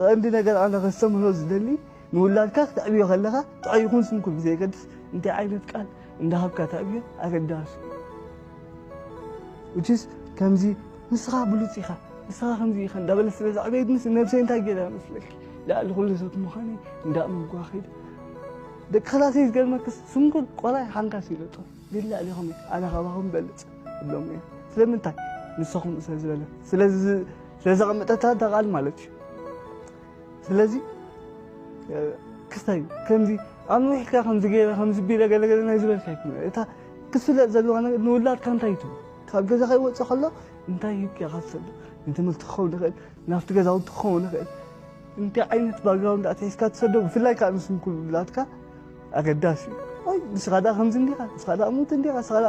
ቐንዲ ነገር ኣነ ከስተምህሮ ዝደሊ ንውላድካ ክተዕብዮ ከለኻ ጥዑይ ይኹን ስንኩል ብዘየገድስ እንታይ ዓይነት ቃል እንዳሃብካ ተዕብዮ ኣገዳሲ which is ከምዚ ንስኻ ብሉጽ ኢኻ ንስኻ ከምዚ ኢኻ እንዳበለ ስለ ዝዓበየት ምስ ነብሰይ እንታይ ገይረ መስለኪ ልዕሊ ኩሉ ሰብ ምዃነይ እንዳእመንኩዋ ከይደ ደቂ ክላሰይ ዝገርመክስ ስንኩል ቆላይ ሓንካስ ይለጦ ግን ልዕሊኹም ኣነ ካባኹም በልጽ እብሎም እየ ስለምንታይ ንሰኹም ስለ ዝበለ ስለዚ ስለዘቐመጠታ እታ ቃል ማለት እዩ ስለዚ ክስታይ ከምዚ ኣብ ንዊሕካ ከምዚ ገይረ ከምዚ ቢለ ገለገለ ናይ ዝበልካ ይኮነ እታ ክፍለጥ ዘለዋ ነገር ንውላድካ እንታይ ትብ ካብ ገዛ ከይወፅእ ከሎ እንታይ ሂብካ ኢኻ ትሰዶ ንትምህርቲ ክኸውን ይኽእል ናብቲ ገዛውንቲ ክኸውን ይኽእል እንታይ ዓይነት ባግራውንድ ኣትሒዝካ ትሰዶ ብፍላይ ከዓ ምስ ምኩብላትካ ኣገዳሲ እዩ ወይ ንስኻ ዳ ከምዚ እንዲኻ ንስኻ ዳ ሙት እንዲኻ ንስኻ ዳ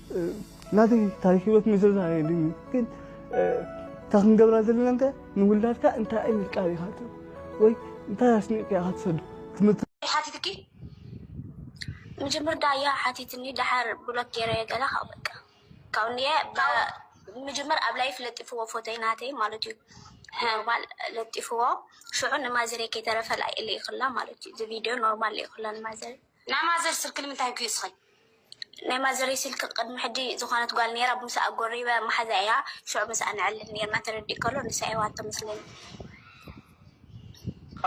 ናተይ ታሪክ ሂወት ምዝርዛር የድልይን እዩ ግን እታ ክንገብራ ዘለና እንታይ ንውላድካ እንታይ ዓይነት ቃል ኢኻ ትህብ ወይ እንታይ ኣስኒቕካ ኢኻ ትሰዱ ትምህርቲ ሓቲትኪ ምጅምር ዳያ ሓቲትኒ ድሓር ብሎክ ገይረ ገለ ካብ በቃ ካብ እንየ ምጅምር ኣብ ላይፍ ለጢፍዎ ፎቶይ ናተይ ማለት እዩ ኖርማል ለጢፍዎ ሽዑ ንማዘሬ ከይተረፈ ላይ እለ ይኽላ ማለት እዩ እዚ ቪድዮ ኖርማል እለ ይኽላ ንማዘሬ ናይ ማዘር ስልኪ ንምንታይ ኪስኺ። ናይ ማዘረይ ስልኪ ቅድሚ ሕጂ ዝኮነት ጋል ነይራ ብምሳኣ ጎሪበ ማሓዛ እያ ሽዑ ምሳኣ ነዕልል ነይርና ተረዲእ ከሎ ንሳ እያ ዋሃብቶ መስለኒ።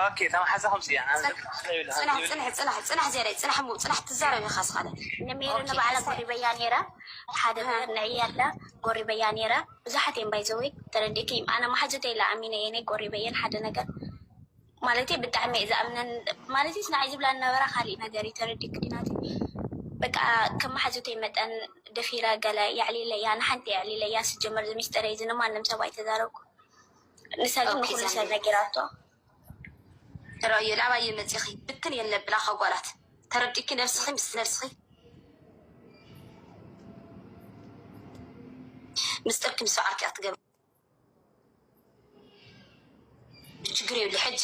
ኦኬ እታ ማሓዛ ከምዚ እያ ናብ ደቂ ኣንስትዮ ይብላ ከምዚ ጽናሕ ይብላ። ጽናሕ ጽናሕ ጽናሕ ዜረይ ጽናሕ እሞ ጽናሕ ትዛረብ ኢካ ዝኸነ ንሜሪ ኦኬ ንባዕላ ሕሰ ጎሪበያ ነይረ ሓደ እህ ነገር ንዕያ ኢላ ጎሪበያ ነይረ ብዙሓት እየን ባይ ዘ ዌይ ተረዲእክይም ኣነ ማሓዙተይ ኢላ ኣሚነ እየ ነይ ጎሪበየን ሓደ ነገር ማለተይ ብጣዕሚ እየ ዝኣምነን ማለተይስ ንዓይ ዝብላ ዝነበራ ካሊእ ነገር እዩ ተረዲእክኒ ናተይ በቃ ከም መሓዙተይ መጠን ደፊረ ገለ የዕሊለያ ንሓንቲ የዕሊለያ ስጀመር ዝሚስጥረይ እዚ ንማንም ሰብ ኣይተዛረብኩ ንሳ ግን ንኩሉ ሰብ ነጊራቶ ራዮ ላባየ መፂኺ ብትን እየን ለብላ ከጓላት ተረዲእኪ ነብስኺ ምስ ነብስኺ ምስጥርኪ ምስ ባዕልኪ እያ ትገብሪ ችግር የብሉ ሕጂ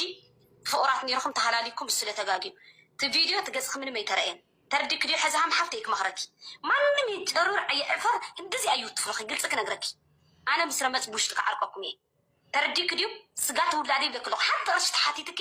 ፍቁራት ኔርኩም ተሃላሊኩም ስለ ተጋግዩ እቲ ቪድዮ እቲ ገጽኪ ምንም ኣይተረእየን ተርዲኪ ድዩ ሕዚ ሃም ሓፍተይ ክመክረኪ ማንም ይጨርር ይዕፈር ክንድዚ ኣዩ ትፍረኪ ግልጺ ክነግረኪ ኣነ ምስ ረመጽ ብውሽጢ ክዓርቀኩም እየ ተረዲኪ ድዩ ስጋ ትውላዲ ይብለኪ ኣለኩ ሓንቲ ቅርሺ ተሓቲትኪ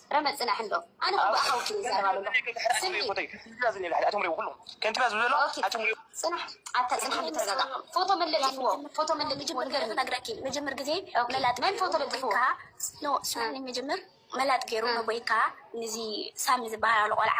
ረመጽ ጽናሕ እንዶ ኣነ እኮ ብኣኻ ወኪለ ይዛረብ ኣለኹ ስሚ ጽናሕ ኣታ ጽናሕ እንዶ ተረጋጋ ፎቶ መን ለጢፍዎ ፎቶ መን ለጢፍዎ ንገርኒ ነግረኪ መጀመር ግዜ መላጥ መን ፎቶ ለጢፍዎ ኖ ስማኒ መጀመር መላጥ ገይሩ ነቦይካ ንዚ ሳሚ ዝበሃል ኣሎ ቆልዓ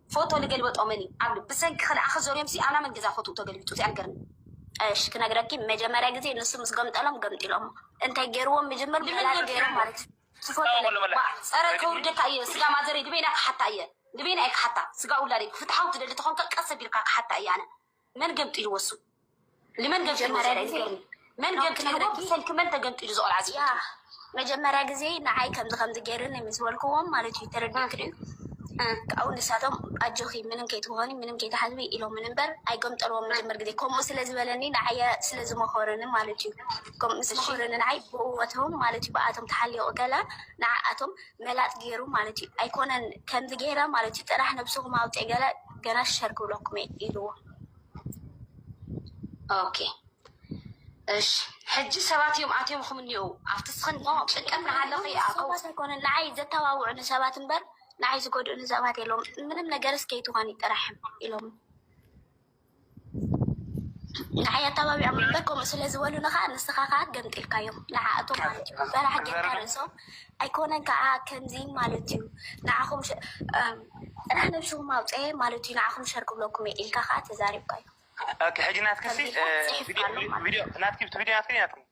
ፎቶ ልገልበጦ መን እዩ ኣብ ብሰንኪ ክልኣኺ ዘርዮምሲ ኣላ መን ገዛ ፎትኡ ተገልቢጡ እዚ ኣልገርም። እሽ ክነግረኪ መጀመርያ ግዜ ንሱ ምስ ገምጠሎም ገምጢሎሞ እንታይ ገይርዎም ምጅምር መላጥ ገይሮም ማለት እዩ ትፎቶ ለባ ፀረ ከውርደካ እየ ስጋ ማዘረይ ንበይና ክሓታ እየ ንበይና እየ ክሓታ ስጋ ውላደይ ፍትሓዊ ትደሊ ተኾንከ ቀስ ኣቢልካ ክሓታ እየ ኣነ መን ገምጢሉ ወሱ ንመን ገምጢሉ መን ገምጢሉ ብሰንኪ መን ተገምጢሉ ዝቆልዓ ዚ መጀመርያ ግዜ ንዓይ ከምዚ ከምዚ ገይሩኒ ምስ በልክዎም ማለት እዩ ተረዲኦም ክድዩ ካብኡ ንሳቶም ኣጆኺ ምንም ከይትኾኒ ምንም ከይትሓዝቢ ኢሎምን እምበር ኣይገምጠልዎም መጀመር ግዜ ከምኡ ስለ ዝበለኒ ንዓየ ስለ ዝመኸሩኒ ማለት እዩ ምስ መኸሩኒ ንዓይ ብእወትዎም ማለት እዩ ብኣቶም ተሓሊቑ ከላ ንዓኣቶም መላጥ ጌሩ ማለት እዩ ኣይኮነን ከምዚ ጌረ ማለት እዩ ጥራሕ ነብስኹም ኣውፅእ ገለ ገና ሸር ክብለኩም እየ ኢልዎ ኦኬ እሺ ሕጂ ሰባት እዮም ኣትዮምኹም እኒኡ ኣብቲ ስኽን ጭንቀት ንሃለኺ ሰባት ኣይኮነ ንዓይ ዘተባብዑኒ ሰባት እምበር ንዓይ ዝጎድኡኒ ሰባት የለውም ምንም ነገር እስከይትኾኒ ጥራሕ ኢሎም ንዓይ ኣተባቢዖም እምበር ከምኡ ስለ ዝበሉኒ ከዓ ንስኻ ከዓ ገምጢልካዮም ንዓኣቶም ማለት እዩ። በራሕ ጌርካ ርእሶም ኣይኮነን ከዓ ከምዚ ማለት እዩ ንዓኹም ጥራሕ ነብስኹም ኣውፀ ማለት እዩ ንዓኹም ሸር ክብለኩም እየ ኢልካ ከዓ ተዛሪብካዮም። ሕጂ ናትኪ ናትኪ ቪድዮ ናትኪ ኢና ንሪኢ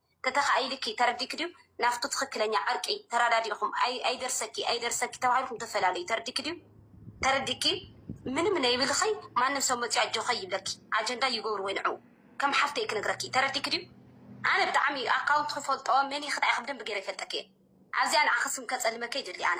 ተተኻኢሉኪ ተረዲእኪ ድዩ ናፍቱ ትኽክለኛ ዕርቂ ተራዳዲእኹም ኣይደርሰኪ ኣይደርሰኪ ተባሂልኩም ተፈላለዩ ተረዲእኪ ድዩ ተረዲእኪ ምንም ነይብልኺ ማንም ሰብ መፅዩ ኣጆኸ ይብለኪ ኣጀንዳ ይገብርዎ ንዑ ከም ሓፍተይ ክነግረኪ ተረዲእኪ ድዩ ኣነ ብጣዕሚ ኣካውንት ክፈልጦ መን ይኽታይኺ ብደንቢ ገይረ ይፈልጠኪ እየ ኣብዚኣ ንዓኺ ስም ከፀልመኪ ኣይደሊ ኣነ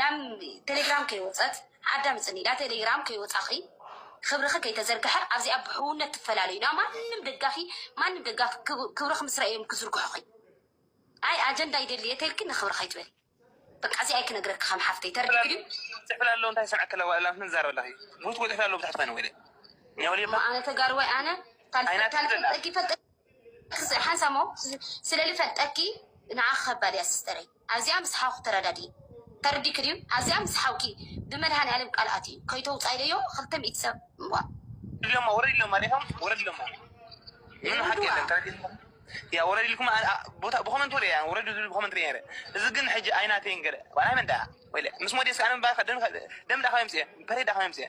ናብ ቴሌግራም ከይወጸት ኣዳምጽኒ ናብ ቴሌግራም ከይወጻኺ ክብርኺ ከይተዘርግሐ ኣብዚኣ ብሕውነት ትፈላለዩ ናብ ማንም ደጋፊ ማንም ደጋፊ ክብርኺ ምስ ረኣዮም ክዝርግሑኺ ኣይ ኣጀንዳ ይደልየ ተልኪ ንክብሪ ከይትበል በቃ እዚ ኣይ ክነግረኪ ከም ሓፍተይ ተረዲኡ ድዩ ጽሕፍላ ኣሎ እንታይ ሰምዐ ከለ ዋላ ምን ዛረብ ኣለኺ ሩት ወጽሕፍላ ኣሎ ብታሕቲ ኮይነ ወይለ ኣነ ተጋርዋይ ኣነ ታልፈልጠኪ ፈልጠ ሓንሳሞ ስለልፈልጠኪ ንዓ ከባድ እያ ስስተረይ ኣዚኣ ምስ ሓውኪ ተራዳድኢ ተርዲኪ ድዩ ኣዚኣ ምስ ሓውኪ ብመድሃኒኣለም ቃል ኣትዩ ከይተውጻኢ ደዮ ክልተ ሚእቲ ሰብ ዋእ። ወረድሎማ ወረድሎማ ዲኹም ወረድሎማ ምንም ሓቂ የለን ተረዲእኩም ድያ ወረድልኩም ኣኣ ቦታ ብኮመንት ወረ እያ ወረዱ ዝብል ብኮመንት ሪኤ ነይረ እዚ ግን ሕጂ ኣይናተይን ገለ ዋላ ናይ መን ደኣ ወይለ ምስ ሞዴስ ኣነ ምባል ደም ደም ደኣ ካበይ ኣምጺኤ ፐሬድ ደኣ ካበይ ኣምጺኤ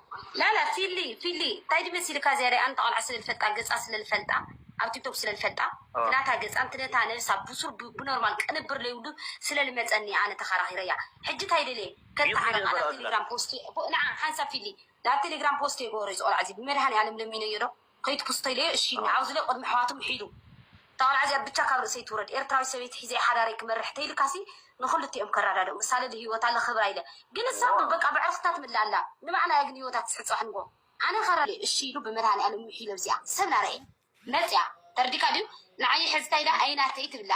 ላላ ፊሊ ፊሊ ታይ ድመሲልካ ዝያዳይ ኣንታ ቆልዓ ስለ ልፈልጣ ገጻ ስለ ልፈልጣ ኣብ ቲክቶክ ስለ ልፈልጣ ትናታ ገጻን ትነታ ነብሳ ቡሱር ብኖርማል ቅንብር ለይብሉ ስለ ልመጸኒ ኣነ ተካራኪረያ ሕጂ ታይ ደልየ ከታዓርቅ ኣነ ኣብ ቴሌግራም ፖስት ንዓ ሓንሳብ ፊሊ ናብ ቴሌግራም ፖስት የገበሮ እዚ ቆልዓ እዚ ብመድሃኒኣለም ለሚነዮ ዶ ከይዱ ክስቶ ኢለዮ እሺ ኢልኒ ዓውዙለይ ቁድሚ ኣሕዋቱ ምሒሉ እታ ቆልዓ እዚኣ ብቻ ካብ ርእሰይ ትውረድ ኤርትራዊት ሰበይቲ ሒዘ እየ ሓዳረይ ክመርሕ ተይልካሲ ንክልቲኦም ከራዳድኡ ምሳለ ልሂወታ ለክብራ ኢለ ግን እሳ ውን በቃ ብዕርክታ ትምልእ ኣላ ንባዕላ እያ ግን ሂወታ ትስሕት ጽባሕ ንግሆ ኣነ ከራ እሺ ኢሉ ብመድሃኒኣለም ምሒሉ ኣብዚኣ ሰብ ናረኤ መጽያ ተርዲካ ድዩ ንዓይ ሕዝታይ ኢላ ኣይናተይ ትብላ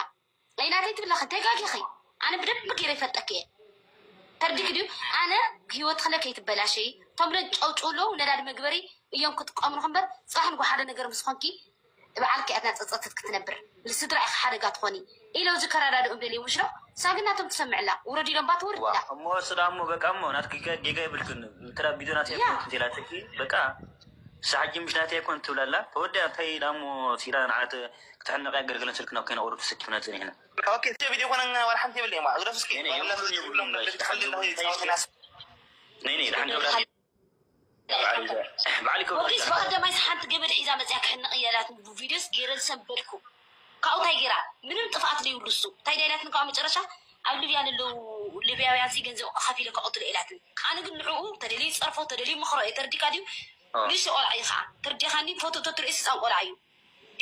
ናይ ናተይ ትብሊ ኣኺ ተጋጊኺ ኣነ ብደንቢ ገይረ ይፈልጠኪ እየ ተርዲኪ ድዩ ኣነ ሂወትክለ ከይትበላሸይ እቶም ለ ጨውጭው ኣለው ነዳዲ መግበሪ እዮም ክጥቀምልኹ እምበር ፅባሕ ንጎ ሓደ ነገር ምስ ኾንኪ ብዓልኪ እያ እናፀፀተት ክትነብር ንስድራ ኢኺ ሓደጋ ትኾኒ ኢለው እዚ ከረዳድኦም ደልዮም ምሽ ዶ እሳ ግን ናቶም ትሰምዕላ ውረድ ኢሎምባ ትወርድ ኢላ። እሞ እሱ ዳሞ በቃ እሞ ናትኪ ከ ጌጋ የብልክን እንተ ቢዶ ናተይ ያ ኣይኮንኩን እንተይላትኪ በቃ እሳ ሕጂ ምሽ ናተይ ኣይኮን ትብላላ ተወዲኣ እንታይ ዳሞ ሲላ ንዓት ክትሕንቕ እያ ግልግልን ስልክን ኣብ ከይነቑሩ ተሰኪፍና ጸኒሕና። ኦኬ እቲ ቪድዮ ኮነ ዋላ ሓንቲ የብለይ እማ ግደፍ እስኪ ሞሪስ ብቀደማይስ ሓንቲ ገመድ ሒዛ መፅያ ክሕንቕ እየ ኢላትኒ ብቪድዮስ ገይረ ዝሰንበድኩ ካብኡ እንታይ ገይራ ምንም ጥፍኣት ዘይብሉ እሱ እንታይ ድያ ኢላትኒ ካብኡ መጨረሻ ኣብ ልብያ ንለው ልብያውያንሲ ገንዘብ ከፊለ ከቐትሎ ኢላትኒ ኣነ ግን ንዕኡ ተደልዩ ፀርፎ ተደልዩ ምኽሮ እየ ተርዲካ ድዩ ንእሽቶ ቆልዓ እዩ ከዓ ተርዲኻኒ ፎቶ ተትርእዩ ህፃን ቆልዓ እዩ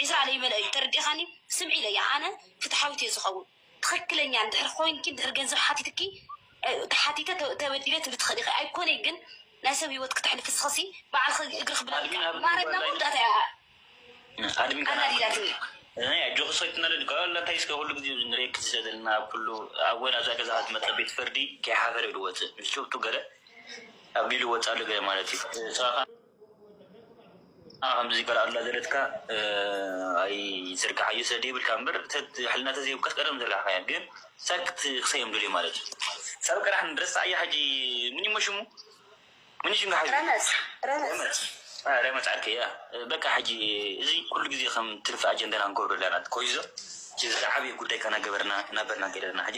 ዕስራ ለይመልኦ እዩ ተርዲእኻኒ ስምዒ ኢለያ ኣነ ፍትሓዊት እየ ዝኸውን ትኽክለኛ እንድሕር ኾይንኪ እንድሕር ገንዘብ ሓቲትኪ ተሓቲተ ተበዲለ ትብሊ ትኽእሊ ኢኺ ኣይኮነይ ግን ናይ ሰብ ሂወት ክተሕልፊ ንስኽሲ ባዕልኺ እግርኺ ብላዕሊ ማረት ናብ መወዳእታ እያ ኣናዲዳትኒ። ናይ ኣጆኺ ሰይቲ መለዲ ካብ ኣላ እንታይ እስከ ኩሉ ግዜ ኣብዚ ንርእየኪ ዘለና ኣብ ኩሉ ኣብ ወላ ኣብዛ ገዛ ዝመጸ ቤት ፍርዲ ከይሓፈረ እዩ ዝወጽእ ምስ ጭብጡ ገለ ኣቢሉ ይወጽእ ኣሎ ገለ ማለት እዩ ጸባኻ ንዓ ከምዚ ቃል ኣላ ዘለትካ ኣይዘርግሓዮ ስለ ደይብልካ እምበር ሕልና ተዘይብካስ ቀደም ምዘርጋሕካያ ግን ሳግ ክትክሰዮም ደልዮም ማለት እዩ ሳብ ቀራሕ ረስዓያ ሕጂ ምንዩሞ ሽሙ ምን ሽም ዝሓዙ ረመጽ ረመጽ ዓርከይ ያ በቃ ሕጂ እዚ ኩሉ ግዜ ከም ትርፊ ኣጀንዳና ንገብሮ ኣለና ኮይዞ ዝዓበየ ጉዳይካ ናገበርና ናበርና ገይረና ሕጂ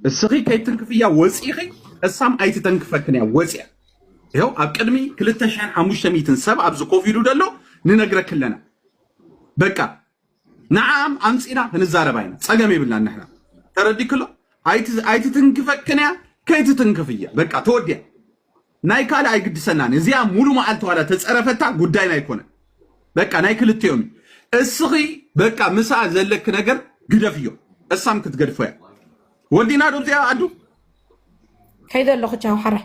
እስኺ ከይትትንክፍያ ወፂኺ እሳም ኣይትተንክፈክን እያ ወፅያ ይኸው ኣብ ቅድሚ ክልተ ሽሕን ሓሙሽተ ሚእትን ሰብ ኣብዚ ኮፍ ኢሉ ደሎ ንነግረክለና በቃ ንዓኣም ኣምጺና ክንዛረብ ኣይነ ጸገም የብልናን ንሕና ተረዲክሎ ኣይትትንክፈክን እያ ከይትትንክፍ እየ በቃ ተወዲያ ናይ ካልእ ኣይግድሰናን እዚኣ ሙሉ መዓልቲ ዋላ ተጸረፈታ ጉዳይና ኣይኮነን በቃ ናይ ክልቲኦም እዩ እስኺ በቃ ምሳ ዘለክ ነገር ግደፍ እዮ እሳም ክትገድፎ እያ ወዲና ዶ እዚኣ ኣዱ ከይደ ኣለኹ ቻው ሓራይ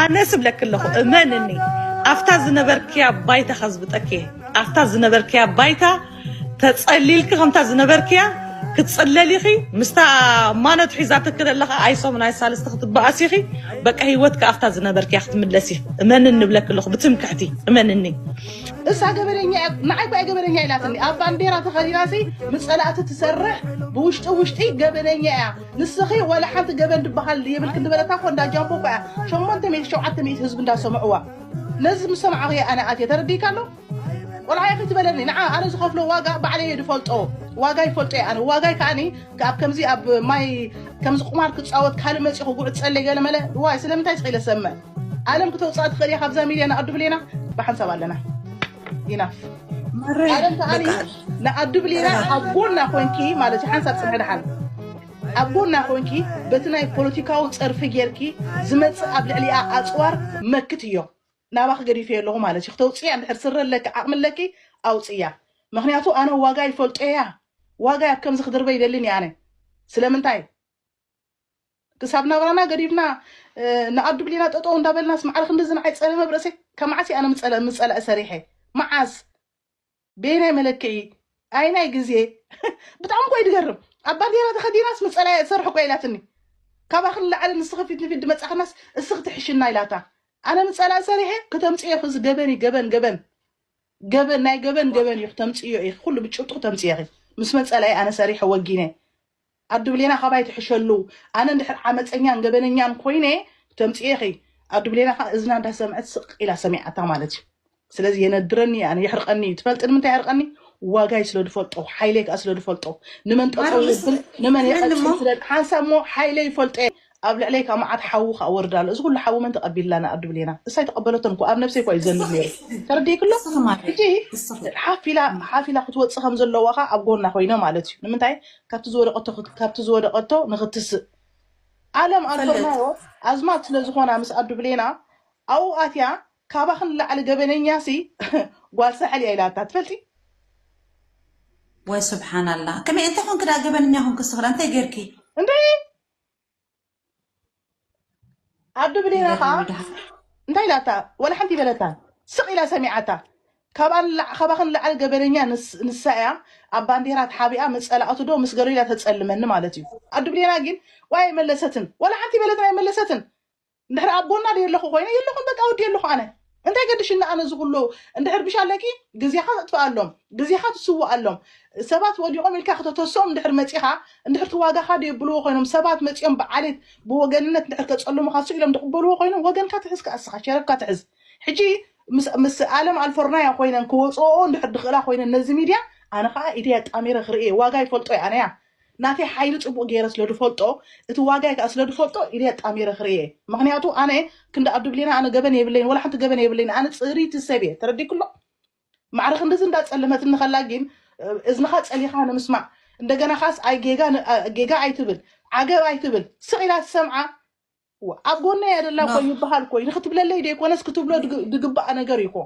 ኣነ ስብለኪ ኣለኹ እመንኒ ኣብታ ዝነበርክያ ባይታ ከዝብጠኪ እየ ኣብታ ዝነበርክያ ባይታ ተጸሊልኪ ከምታ ዝነበርክያ ክትጽለሊኺ ምስታ ማነት ሒዛትኪ ዘለኻ ኣይ ሰሙን ኣይ ሳልስቲ ክትበኣሲኺ በቃ ሂወትኪ ኣብታ ዝነበርክያ ክትምለሲ እመንኒ ብለኪ ኣለኹ ብትምክሕቲ እመንኒ እሳ ገበነኛ እያ ንዓይ እኳ ገበነኛ ኢላትኒ ኣብ ባንዴራ ተኸዲናሲ ምስ ፀላእቲ ትሰርሕ ብውሽጢ ውሽጢ ገበነኛ እያ ንስኺ ዋላ ሓንቲ ገበን ድበሃል የብልክን ዝበለታ እኮ እንዳ ጃምቦ እኮ እያ ሸሞንተ ሚእቲ ሸውዓተ ሚእቲ ህዝቢ እንዳሰምዕዋ ነዚ ምስ ሰማዕኹ እየ ኣነ ኣትየ ተረዲእካ ኣሎ ቆልዓየ ከይትበለኒ ንዓ ኣነ ዝኸፍሎ ዋጋ ባዕለየ ድፈልጦ ዋጋይ ፈልጦ እየ ኣነ ዋጋይ ከዓኒ ኣብ ከምዚ ኣብ ማይ ከምዚ ቁማር ክፃወት ካልእ መፂኡ ክጉዕፀለይ ገለመለ ዋይ ስለምንታይ ስኺ ኢለ ሰምዕ ዓለም ክተውፅኣ ትኽእል እያ ካብዛ ሚድያ ንኣዱ ብሌና ብሓንሳብ ኣለና ኢናፍ ዓለም ከዓኒ ንኣዱ ብሌና ኣብ ጎና ኮንኪ ማለት እዩ ሓንሳብ ፅንሒ ድሓን ኣብ ጎና ኮንኪ በቲ ናይ ፖለቲካዊ ፀርፊ ጌርኪ ዝመፅእ ኣብ ልዕሊኣ ኣፅዋር መክት እዮ ናባኺ ገዲፈ ኣለኹ ማለት እዩ ክተውፅያ እንድሕር ስረ ኣለኪ ዓቕሚ ኣለኪ ኣውፅያ ምክንያቱ ኣነ ዋጋ ይፈልጦ እያ ዋጋ ኣብ ከምዚ ክድርበ ይደልን እየ ኣነ ስለምንታይ ክሳብ ናብራና ገዲፍና ንኣዱ ብሊና ጠጠው እንዳበልናስ ማዕረ ክንድዚ ንዓይ ፀለመ ብ ርእሰይ ካብ መዓስ እየ ኣነ ምፀለ ምፀላኢ ሰሪሐ መዓስ በየናይ መለክዒ ኣይናይ ግዜ ብጣዕሚ እኮ እዩ ድገርም ኣብ ባንዴራ ተኸዲናስ ምፀላኢ እየ ዝሰርሕ እኮ ኢላትኒ ካባኽን ላዕሊ ንስኺ ፊት ንፊት ድመፃኽናስ እስኺ ትሕሽና ኢላታ ኣነ ምፀላኢ ሰሪሐ ክተምፅዮ ኢኺ እዚ ገበን እዩ ገበን ገበን ገበን ናይ ገበን ገበን እዩ ክተምፅዮ ኢኺ ኩሉ ብጭብጡ ክተምፅዮ ኢኺ ምስ መፀላኢ ኣነ ሰሪሐ ወጊነ ኣዱ ብሌና ካባይ ትሕሸሉ ኣነ እንድሕር ዓመጸኛን ገበነኛን ኮይነ ተምጽኤኺ ኣዱ ብሌና ከኣ እዝና እንዳሰምዐት ስቅ ኢላ ሰሚዓታ ማለት እዩ ስለዚ የነድረኒ እዩ ኣነ የሕርቀኒ እዩ ትፈልጢ ንምንታይ የሕርቀኒ ዋጋይ ስለ ድፈልጦ ሓይለይ ከኣ ስለ ድፈልጦ ንመን ጠጠው የብል ንመን የቀጽል ስለ ሓንሳብ እሞ ሓይለይ ይፈልጦ እየ ኣብ ልዕለይ ከኣ መዓት ሓዊ ከኣ ወርድ ኣሎ እዚ ኩሉ ሓዊ መን ተቀቢልላና ኣብ ድብሌና እሳ ኣይተቀበለቶን እኮ ኣብ ነብሰይ እኳ እዩ ዝዘንብ ነይሩ ተረዲእኪ ኣሎ ሕጂ ሓፍ ኢላ ሓፍ ኢላ ክትወጽእ ከም ዘለዋ ከኣ ኣብ ጎና ኮይነ ማለት እዩ ንምንታይ ካብቲ ዝወደቀቶ ካብቲ ዝወደቀቶ ንክትስእ ዓለም ኣልኮርናዮ ኣዝማት ስለ ዝኮና ምስ ኣብ ድብሌና ኣብኡ ኣትያ ካባኺ ንላዕሊ ገበነኛ ሲ ጓል ሳሕል እያ ኢላታ ትፈልጢ ወይ ስብሓናላ ከመይ እንተ ኮንኪ ደኣ ገበነኛ ኮንኪ ስክላ እንታይ ጌርኪ እንታይ ኣዱ ብሌና ከዓ ይበሉ ድሃር እንታይ ኢላታ ወላ ሓንቲ በለታ ስቅ ኢላ ሰሚዓታ ካብኣ ንላዕ- ካባኽን ንላዕሊ ገበነኛ ንስ- ንሳ እያ ኣብ ባንዴራ ተሓቢኣ ምስ ፀላእቱ ዶ ምስ ገሎ ኢላ ተፀልመኒ ማለት እዩ ኣዱ ብሌና ግን ዋይ ኣይመለሰትን ወላ ሓንቲ በለትን ኣይመለሰትን እንድሕር ኣቦና ደየለኹ ኮይነ የለኹን በቃ ወዲኤለኹ ኣነ እንታይ ገድሽኒ ኣነ እዚ ኩሉ እንድሕር ብሽ ኣለኪ ግዜኻ ተጥፍኣሎም ግዜኻ ትስውኣሎም ሰባት ወዲቖም ኢልካ ከተተስኦም እንድሕር መፂኻ እንድሕር ትዋጋኻ ደየብልዎ ኮይኖም ሰባት መፂኦም ብዓሌት ብወገንነት እንድሕር ከፀልሙኻ ሱ ኢሎም ድቕበልዎ ኮይኖም ወገንካ ትሕዝ ከኣ እስኻ ሸረፍካ ትሕዝ ሕጂ ምስ ምስ ኣለም ኣልፎርናያ ኮይነን ክወፅኦ እንድሕር ድኽእላ ኮይነን ነዚ ሚድያ ኣነ ከዓ ኢደይ ኣጣሚረ ክርእየ ዋጋ ይፈልጦ እየ ኣነያ ናተይ ሓይሊ ጽቡቅ ጌረ ስለ ድፈልጦ እቲ ዋጋይ ከኣ ስለ ድፈልጦ ኢደይ ኣጣሚረ ክርእየ ምክንያቱ ኣነ ክንዲ ኣዱ ብሌና ኣነ ገበን የብለይን ወላ ሓንቲ ገበን የብለይን ኣነ ጽሪቲ ሰብ እየ ተረዲኩ ኣሎ ማዕረ ክንድዚ እንዳ ጸለመትኒ ከላ ጊን እዝንካ ጸሊካ ንምስማዕ እንደገና ካስ ኣይ ጌጋ ጌጋ ኣይትብል ዓገብ ኣይትብል ስቅ ኢላ ትሰምዓ እወ፣ ኣብ ጎና እያ ዘላ እኮ ኖህ ይበሃል እኮ እዩ ንክትብለለይ ዘይኮነስ ክትብሎ ድግ- ድግባእ ነገር እዩ እኮ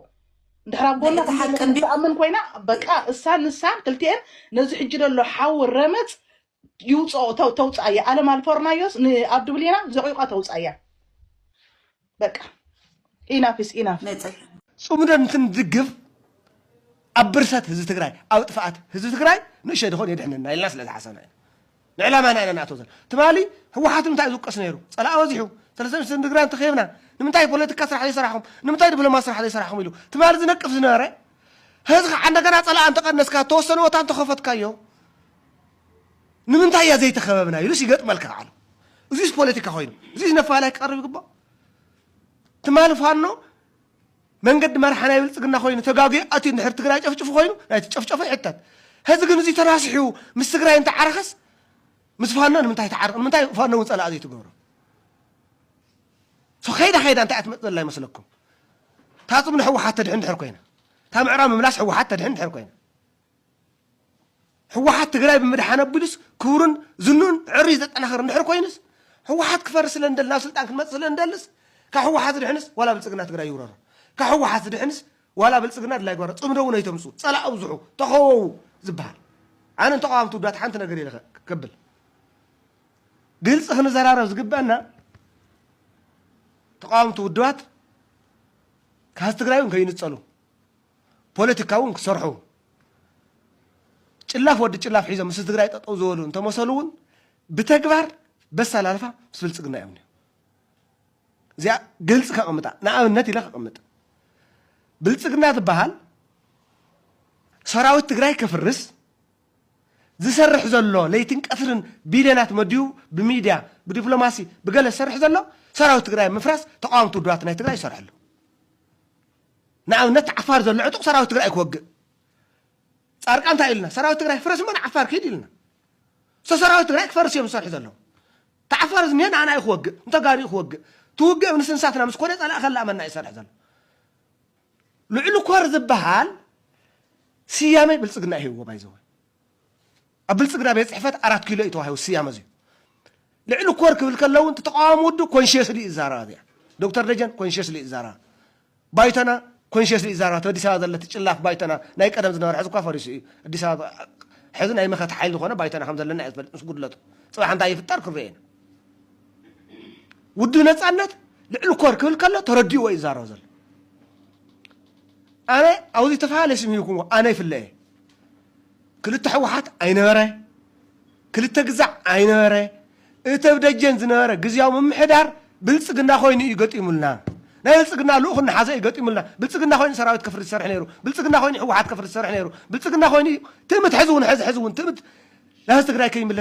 እንድሕር ኣብ ጎና እቲ ሓቂ ከምዘለኹ እንዲ ትኣምን ኮይና በቃ እሳን ንሳን ክልቲኤን ነዚ ሕጂ ዘሎ ሓዊ ረመፅ ይውፅኦ ተው- ተውፅኣ እያ ኣለም ኣልፈርናዮስ ንኣብ ድብሌና ዘቂቋ ተውፅኣ እያ በቃ ኢናፍ ኢስ ኢናፍ መፀ ፅምዶ እንትንድግፍ ኣብ ብርሰት ህዝቢ ትግራይ ኣብ ጥፍኣት ህዝቢ ትግራይ ንእሸ ድኾን የድሕነና ኢልና ስለ ዝሓሰብና ኢና ንዕላማና ኢና ንኣትዎ ዘለና። ትማሊ ህወሓት ንምንታይ እዩ ዝውቀስ ነይሩ? ፀላኢ በዚሑ፣ ሰለስተ ሚኒስትር ንትግራይ እንተኺብና፣ ንምንታይ ፖለቲካ ስራሕ ዘይሰራሕኹም፣ ንምንታይ ድፕሎማሲ ስራሕ ዘይሰራሕኹም ኢሉ ትማሊ ዝነቅፍ ዝነበረ ሀዚ ከዓ እንደገና ፀላኢ እንተቐነስካ ተወሰነ ቦታ እንተኸፈትካዮ ንምንታይ እያ ዘይተኸበብና ኢሉስ ይገጥመልካ ባዕሉ። እዚስ ፖለቲካ ኮይኑ እዚስ ነፋላይ ክቀርብ ይግባእ። ትማሊ ፋኖ መንገዲ መርሓ ናይ ብልፅግና ኮይኑ ተጋጊዩ ኣትዩ እንድሕር ትግራይ ጨፍጭፉ ኮይኑ ናይቲ ጨፍጨፎ ይሕተት ሀዚ ግን እዙይ ተራሲሑ ምስ ትግራይ እንተዓረኸስ ምስ ፋኖ ንምንታይ ተዓርቕ ንምንታይ ፋኖ እውን ፀላእ ዘይትገብሮ ሶ ከይዳ ከይዳ እንታይ ኣትመፅ ዘላ ይመስለኩም ታፅም ንሕወሓት ተድሕን ድሕር ኮይና እታ ምዕራብ ምምላስ ሕወሓት ተድሕን ድሕር ኮይና ህወሓት ትግራይ ብምድሓን ኣቢሉስ ክብሩን ዝንኡን ዕርዩ ዘጠናኽር እንድሕር ኮይኑስ ህወሓት ክፈርስ ስለ እንደሊ ናብ ስልጣን ክንመፅእ ስለ እንደልስ ካብ ህወሓት ዝድሕንስ ዋላ ብልፅግና ትግራይ ይውረሮ ካብ ህወሓት ዝድሕንስ ዋላ ብልፅግና ድላይ ጓሮ ፅምዶ እውን ኣይተምፅኡ ፀላእ ኣብዝሑ ተኸወው ዝበሃል ኣነ ንተቃዋምቲ ውዳት ሓንቲ ነገር ኢለ ከብል ግልፂ ክንዘራረብ ዝግበአና ተቃዋምቲ ውድባት ካብ ትግራይ እውን ከይንፀሉ ፖለቲካ እውን ክሰርሑ ጭላፍ ወዲ ጭላፍ ሒዞም ምስ ትግራይ ጠጠው ዝበሉ እንተመሰሉ እውን ብተግባር በሳል ኣልፋ ምስ ብልፅግና እዮም እዚኣ ግልፂ ከቕምጣ ንኣብነት ኢለ ከቕምጥ ብልፅግና ዝበሃል ሰራዊት ትግራይ ከፍርስ ዝሰርሕ ዘሎ ለይትን ቀትርን ቢልዮናት መድዩ ብሚድያ ብዲፕሎማሲ ብገለ ዝሰርሕ ዘሎ ሰራዊት ትግራይ ምፍራስ ተቃወምቲ ውድባት ናይ ትግራይ ይሰርሐሉ ንኣብነት ዓፋር ዘሎ ዕጡቕ ሰራዊት ትግራይ እዩ ክወግእ። ጻድቃን እንታይ ኢሉና? ሰራዊት ትግራይ ፍረስ እሞ ንዓፋር ክይድ ኢሉና። ሶ ሰራዊት ትግራይ ክፈርስ እዮም ዝሰርሑ ዘለዉ። ተዓፋር ዝኒሀ ንኣና እዩ ክወግእ፣ ንተጋሩ እዩ ክወግእ። እቲ ውግእ ምስ እንሳትና ምስ ኮነ ጸላኢ ከላእመና እዩ ዝሰርሕ ዘሎ። ልዕሊ ኮር ዝበሃል ስያሜ ብልጽግና ይህብዎ ባይዘወ ኣብ ብልጽግና ቤት ጽሕፈት ኣራት ኪሎ እዩ ተዋሂቡ ስያመ እዚዩ። ልዕሊ ኮር ክብል ከሎ እውን እቲ ተቃዋሚ ውድብ ኮንሽየስሊ እዩ ዝዛረባ እዚኣ። ዶክተር ደጀን ኮንሽየስሊ እዩ ዝዛረባ። ባይቶና ኮንሽየስሊ እዩ ዝዛረባ። እቲ ኣዲስ ኣበባ ዘሎ እቲ ጭላፍ ባይቶና ናይ ቀደም ዝነበረ ሕዚ እኳ ፈሪሱ እዩ። ኣዲስ ኣበባ ሕዚ ናይ መኸተ ሓይሊ ዝኾነ ባይቶና ከም ዘለና እዩ ዝፈልጥ ምስ ጉድለቱ። ጽባሕ እንታይ ይፍጠር ክንሪኦ ኢና። ውድብ ነጻነት ልዕሊ ኮር ክብል ከሎ ተረዲእዎ እዩ ዝዛረብ ዘሎ። ኣነ ኣብዚ ተፈላለየ ስም ሂብኩምዎ ኣነ ይፍለ እየ። ክልተ ሕወሓት ኣይነበረ፣ ክልተ ግዛዕ ኣይነበረ፣ እቲ ኣብ ደጀን ዝነበረ ግዝያዊ ምምሕዳር ብልፅግና ኮይኑ እዩ ገጢሙልና። ናይ ብልፅግና ልኡኽ እናሓዘ እዩ ገጢሙልና። ብልፅግና ኮይኑ ሰራዊት ከፍሪ ዝሰርሕ ነይሩ፣ ብልፅግና ኮይኑ ሕወሓት ከፍሪ ዝሰርሕ ነይሩ፣ ብልፅግና ኮይኑ እዩ ትእምት ሕዚ እውን ሕዚ ሕዚ እውን ትእምት ናህዚ ትግራይ ከይምለስ